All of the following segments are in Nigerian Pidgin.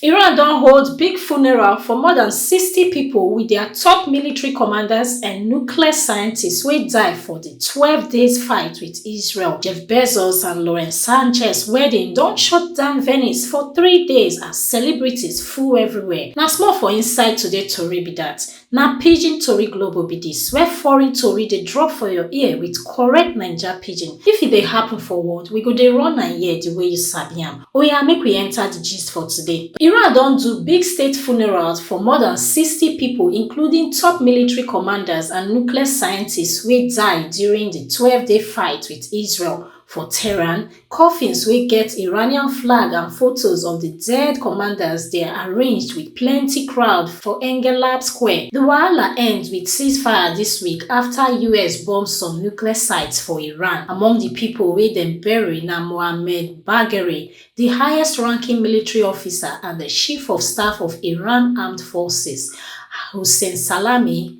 Iran don hold big funeral for more dan sixty pipo wit dia top military commanders and nuclear scientists wey die for di twelve days fight wit Israel. Jeff Bezos and Lauren Sanchez wedding don shut down Venice for three days as celebrities full everywhere. Na small for inside today tori be dat. Na pidgin tori globo be dis where foreign tori dey drop for your ear with correct naija pidgin. If e dey happen for world, we go dey run am here the way you sabi am. Oya make we enter the gist for today. Iran don do big state funerals for more than sixty people including top military commanders and nuclear scientists wey die during the twelve day fight with Israel For Tehran, coffins wey get Iranian flag and photos of di dead commanders dey arranged wit plenty crowd for Engelab Square. Di wahala end wit ceasefire dis week afta us bomb some nuclear sites for Iran. Among di pipo wey dem bury na Mohammad Bagheri, di highest-ranking military officer and chief of staff of Iran Armed Forces, Hossein Salami,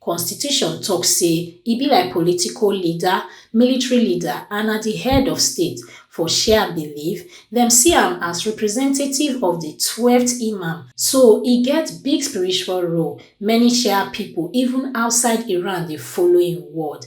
Constitution tok say e be like political leader, military leader and na di head of state. For Shia belief, dem see am as representative of di twelfth Imam, so e get big spiritual role. Many Shia pipo, even outside Iran, dey follow im word.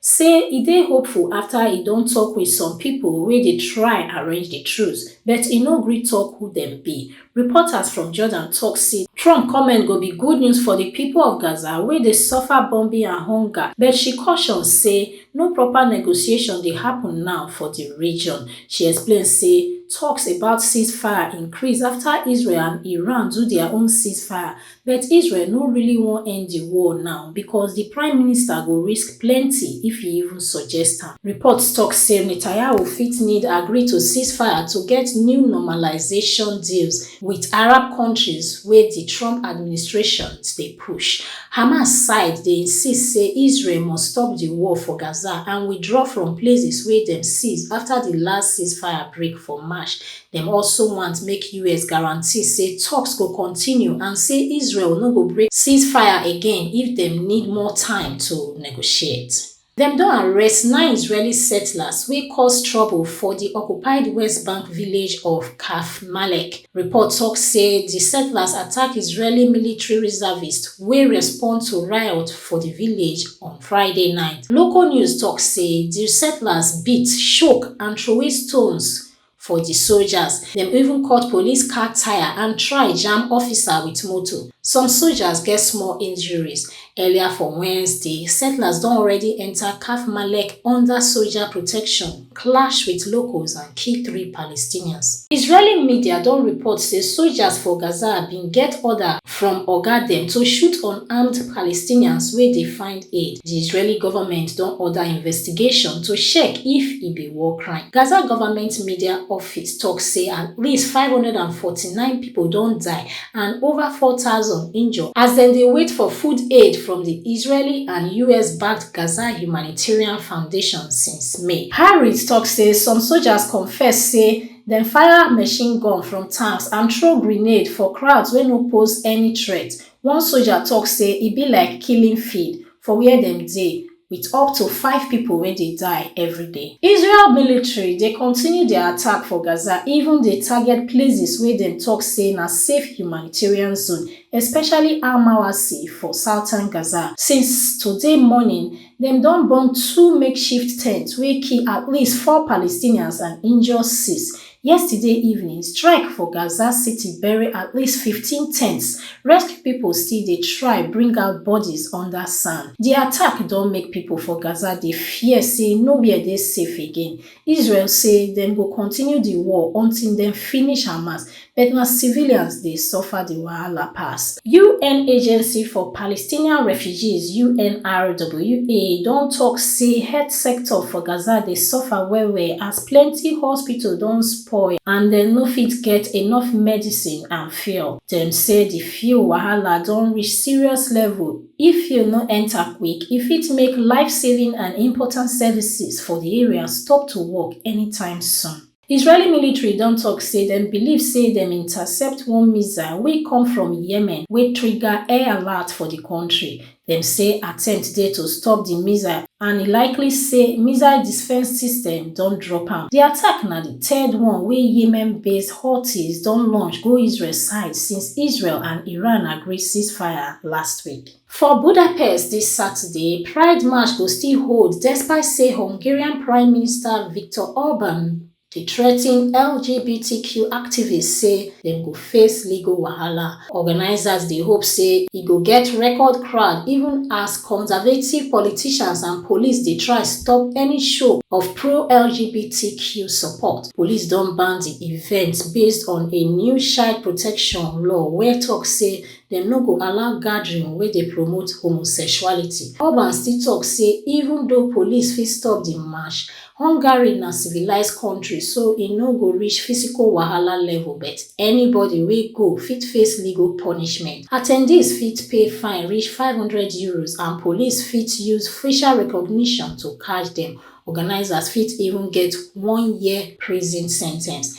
say e dey hopeful afta e don tok wit some pipo wey dey try arrange di truce but e no gree tok who dem be. Reporters from Jordan tok say Trump comment go be good news for di pipo of Gaza wey dey suffer bombing and hunger, but she caution say no proper negotiation dey happun now for di region. She explain say toks about ceasefire increase afta Israel and Iran do dia own ceasefire But Israel no really wan end di war now because di prime minister go risk plenty if e even suggest am. Reports tok say Netanyahu fit need agree to ceasefire to get new normalisation deals wit Arab kontris wey di Trump administration dey push. Hamas side dey insist say Israel must stop di war for Gaza and withdraw from places wey dem seize afta di last ceasefire break for March Dem also want make us guarantee say talks go continue and say Israel no go break ceasefire again if dem need more time to negotiate. Dem don arrest nine Israeli settlers wey cause trouble for di occupied West Bank village of Karfmalek. Report talk say di settlers attack Israeli military reservists wey respond to riot for di village on Friday night. Local news talk say di settlers beat, choke and throway stones for di soldiers. Dem even cut police car tyre and try jam officer wit motor. Some soldiers get small injuries. Earlier for Wednesday, settlers don already enta Kaf Malek under soldier protection, clash wit locals and kill three Palestinians. Israeli media don report say soldiers for Gaza bin get order from oga dem to shoot unarmed palestinians wey dey find aid di israeli goment don order investigation to check if e be war crime gaza goment media office tok say at least five hundred and forty nine pipo don die and ova four thousand injure as dem dey wait for food aid from di israeli and us-backed gaza humanitarian foundation since may. Harris tok say some sojas confess say dem fire machine gun from tanks and throw grenade for crowds wey no pose any threat one soja tok say e be like killing field for wia dem dey wit up to five pipo wey dey die evriday. Israel military dey continue dia attack for Gaza even dey target places wey dem tok say na safe humanitarian zone, especially Al-Mawasi for southern Gaza since today morning. Dem don bomb two makeshift tents wey kill at least four Palestinians and injure six. Yesterday evening strike for Gaza City bury at least fifteen tents, rescue pipo still dey try bring out bodies under sand. Di attack don make pipo for Gaza dey fear say nowhere dey safe again, Israel say dem go continue di war until dem finish Hamas, but na civilians dey suffer di wahala pass. UN Agency for Palestinian Refugees, UNRWA, don tok say health sector for Gaza dey suffer well-well as plenty hospital don spoil and dem no fit get enough medicine and fuel. Dem say di fuel wahala don reach serious level. If you no enter quick, e fit make life-saving and important services for di area stop to work anytime soon. Israeli military don tok say dem believe say dem intercept one missile wey come from Yemen wey trigger air alert for di kontri. Dem say attempt dey to stop di missile. and e likely say missile defence system don drop am. Di attack na di third one wey Yemen-based Houthis don launch go Israel side since Israel and Iran agree ceasefire last week. For Budapest dis Saturday, Pride march go still hold despite say Hungarian Prime Minister Viktor Orban Di threaten LGBTQ activists say dem go face legal wahala. Organisers dey hope say e go get record crowd even as conservative politicians and police dey try stop any show of pro-LGBTQ support. Police don ban di event based on a new child protection law wey tok say dem no go allow gathering wey dey promote homosexuality. Orban still tok say even though police fit stop di march, Hungary na civilised kontri so e no go reach physical wahala level but anybody wey go fit face legal punishment. Attendees fit pay fine reach five hundred euros and police fit use facial recognition to catch dem. Organisers fit even get one year prison sentence.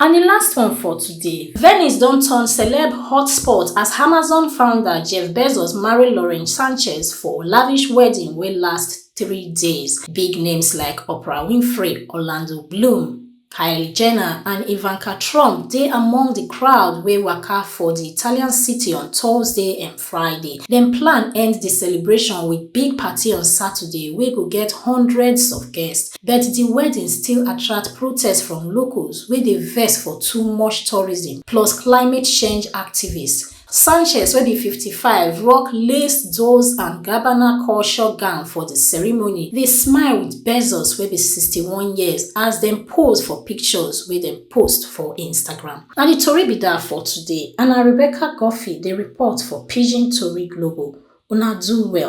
And di last one for today, Venice don turn celeb hotspot as Amazon founder Jeff Bezos marry Lauren Sanchez for lavish wedding wey last three days. Big names like Oprah Winfrey, Orlando Bloom, Kylie Jenner and Ivanka Trump dey among di crowd wey waka for di Italian city on Thursday. Friday. Dem plan end di celebration wit big party on Saturday wey go get hundreds of guests, but di wedding still attract protest from locals wey dey vex for too much tourism plus climate change activists. Sanchez, wey be fifty five, rock lace Dolce and Gabbana culture gown for di ceremony, dey smile wit Bezos, wey be sixty one years, as dem pose for pictures wey dem. post for Instagram. Na di tori be dat for today and na Rebecca Guffey dey report for Pidgin Tori Global. Una do well.